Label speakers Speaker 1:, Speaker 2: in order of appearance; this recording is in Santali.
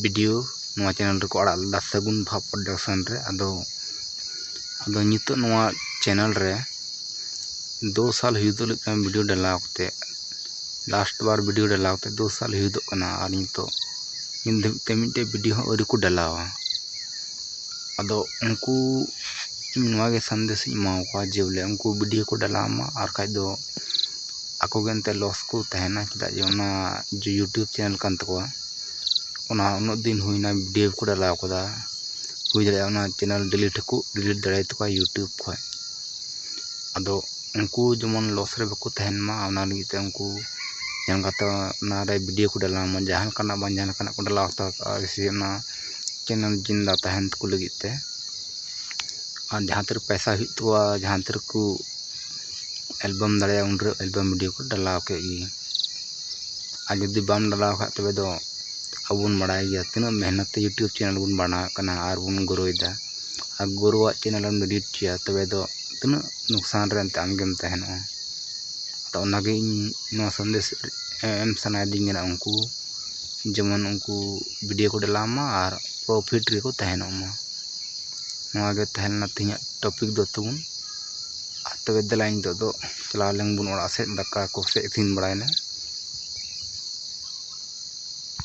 Speaker 1: ᱵᱷᱤᱰᱤᱭᱳ ᱱᱚᱣᱟ ᱪᱮᱱᱮᱞ ᱨᱮᱠᱚ ᱟᱲᱟᱜ ᱞᱮᱫᱟ ᱥᱟᱹᱜᱩᱱ ᱵᱷᱟᱵᱽ ᱯᱨᱚᱰᱟᱠᱥᱚᱱ ᱨᱮ ᱟᱫᱚ ᱟᱫᱚ ᱱᱤᱛᱚᱜ ᱱᱚᱣᱟ ᱪᱮᱱᱮᱞ ᱨᱮ ᱫᱩ ᱥᱟᱞ ᱦᱩᱭᱩᱜᱚᱜ ᱞᱟᱹᱜᱤᱫ ᱠᱟᱱᱟ ᱵᱷᱤᱰᱤᱭᱳ ᱰᱟᱞᱟᱣ ᱠᱟᱛᱮᱫ ᱞᱟᱥᱴ ᱵᱟᱨ ᱵᱷᱤᱰᱤᱭᱳ ᱰᱟᱞᱟᱣ ᱠᱟᱛᱮᱫ ᱫᱩ ᱥᱟᱞ ᱦᱩᱭᱩᱜᱚᱜ ᱠᱟᱱᱟ ᱟᱨ ᱱᱤᱛᱚᱜ ᱱᱤᱛ ᱫᱷᱟᱹᱵᱤᱡ ᱛᱮ ᱢᱤᱫᱴᱮᱱ ᱵᱷᱤᱰᱤᱭᱳ ᱦᱚᱸ ᱟᱹᱣᱨᱤ ᱠᱚ ᱰᱟᱞᱟᱣᱟ ᱟᱫᱚ ᱩᱱᱠᱩ ᱤᱧ ᱱᱚᱣᱟ ᱜᱮ ᱥᱟᱸᱫᱮᱥ ᱤᱧ ᱮᱢᱟ ᱠᱚᱣᱟ ᱡᱮ ᱵᱚᱞᱮ ᱩᱱᱠᱩ ᱵᱷᱤᱰᱤᱭᱳ ᱠᱚ ᱰᱟᱞᱟᱣ ᱢᱟ ᱟᱨ ᱵᱟᱠᱷᱟᱡ ᱫᱚ ᱟᱠᱚ ᱜᱮ ᱮᱱᱛᱮᱫ ᱞᱚᱥ ᱠᱚ ᱛᱟᱦᱮᱱᱟ ᱪᱮᱫᱟᱜ ᱡᱮ ᱚᱱᱟ ᱡᱮ ᱤᱭᱩᱴᱩᱵᱽ ᱪᱮᱱᱮᱞ ᱠᱟᱱ ᱛᱟᱠᱚᱣᱟ ᱚᱱᱟ ᱩᱱᱟᱹᱜ ᱫᱤᱱ ᱦᱩᱭᱱᱟ ᱵᱷᱤᱰᱭᱳ ᱠᱚ ᱰᱟᱞᱟᱣ ᱠᱟᱫᱟ ᱦᱩᱭ ᱫᱟᱲᱮᱭᱟᱜᱼᱟ ᱚᱱᱟ ᱪᱮᱱᱮᱞ ᱰᱤᱞᱤᱴ ᱦᱚᱸᱠᱚ ᱰᱤᱞᱤᱴ ᱫᱟᱲᱮ ᱛᱟᱠᱚᱣᱟ ᱤᱭᱩᱴᱩᱵᱽ ᱠᱷᱚᱡ ᱟᱫᱚ ᱩᱱᱠᱩ ᱡᱮᱢᱚᱱ ᱞᱚᱥ ᱨᱮ ᱵᱟᱠᱚ ᱛᱟᱦᱮᱱ ᱢᱟ ᱚᱱᱟ ᱞᱟᱹᱜᱤᱫ ᱛᱮ ᱩᱱᱠᱩ ᱧᱮᱞ ᱠᱟᱛᱮ ᱚᱱᱟᱨᱮ ᱵᱷᱤᱰᱭᱳ ᱠᱚ ᱰᱟᱞᱟᱣ ᱢᱟ ᱡᱟᱦᱟᱸ ᱞᱮᱠᱟᱱᱟᱜ ᱵᱟᱝ ᱡᱟᱦᱟᱸ ᱞᱮᱠᱟᱱᱟᱜ ᱠᱚ ᱰᱟᱞᱟᱣ ᱦᱟᱛᱟᱲ ᱠᱟᱜᱼᱟ ᱡᱮᱭᱥᱮ ᱚᱱᱟ ᱪᱮᱱᱮᱞ ᱡᱤᱱᱫᱟ ᱛᱟᱦᱮᱱ ᱛᱟᱠᱚ ᱞᱟᱹᱜᱤᱫ ᱛᱮ ᱟᱨ ᱡᱟᱦᱟᱸ ᱛᱤᱨᱮ ᱯᱚᱭᱥᱟ ᱦᱩᱭᱩᱜ ᱛᱟᱠᱚᱣᱟ ᱡᱟᱦᱟᱸ ᱛᱤᱨᱮ ᱠᱚ ᱮᱞᱵᱟᱢ ᱫᱟᱲᱮᱭᱟᱜᱼᱟ ᱩᱱᱨᱮ ᱮᱞᱵᱟᱢ ᱵᱷᱤᱰᱭᱳ ᱠᱚ ᱰᱟᱞᱟᱣ ᱠᱮᱫ ᱜᱮ ᱟᱨ ᱡᱩᱫᱤ ᱵᱟᱢ ᱰᱟᱞᱟᱣ ᱠᱷᱟᱡ ᱛᱚᱵᱮ ᱫᱚ ᱟᱵᱚ ᱵᱚᱱ ᱵᱟᱲᱟᱭ ᱜᱮᱭᱟ ᱛᱤᱱᱟᱹᱜ ᱢᱮᱦᱱᱚᱛ ᱛᱮ ᱤᱭᱩᱴᱩᱵᱽ ᱪᱮᱱᱮᱞ ᱵᱚᱱ ᱵᱮᱱᱟᱣᱮᱫ ᱠᱟᱱᱟ ᱟᱨ ᱵᱚᱱ ᱜᱨᱳᱭᱮᱫᱟ ᱟᱨ ᱜᱳᱨᱳᱣᱟᱜ ᱪᱮᱱᱮᱞ ᱮᱢ ᱰᱤᱞᱤᱴ ᱦᱚᱪᱚᱭᱟ ᱛᱚᱵᱮ ᱫᱚ ᱛᱤᱱᱟᱹᱜ ᱞᱳᱠᱥᱟᱱ ᱨᱮ ᱮᱱᱛᱮᱫ ᱟᱢ ᱜᱮᱢ ᱛᱟᱦᱮᱱᱚᱜᱼᱟ ᱛᱚ ᱚᱱᱟ ᱜᱮ ᱤᱧ ᱱᱚᱣᱟ ᱥᱟᱸᱫᱮᱥ ᱮᱢ ᱥᱟᱱᱟᱭᱮᱫᱤᱧ ᱠᱟᱱᱟ ᱩᱱᱠᱩ ᱡᱮᱢᱚᱱ ᱩᱱᱠᱩ ᱵᱷᱤᱰᱤᱭᱳ ᱠᱚ ᱰᱟᱞᱟᱣ ᱢᱟ ᱟᱨ ᱯᱨᱚᱯᱷᱤᱴ ᱨᱮᱠᱚ ᱛᱟᱦᱮᱱᱚᱜ ᱢᱟ ᱱᱚᱣᱟ ᱜᱮ ᱛᱟᱦᱮᱸ ᱞᱮᱱᱟ ᱛᱮᱦᱮᱧᱟᱜ ᱴᱚᱯᱤᱠ ᱫᱚ ᱛᱟᱵᱚᱱ ᱛᱚᱵᱮ ᱫᱮᱞᱟ ᱱᱤᱛᱚᱜ ᱫᱚ ᱪᱟᱞᱟᱣ ᱞᱮᱱ ᱵᱚᱱ ᱚᱲᱟᱜ ᱥᱮᱫ ᱫᱟᱠᱟ ᱠᱚᱥᱮ ᱤᱥᱤᱱ ᱵᱟᱲᱟᱭᱮᱱᱟ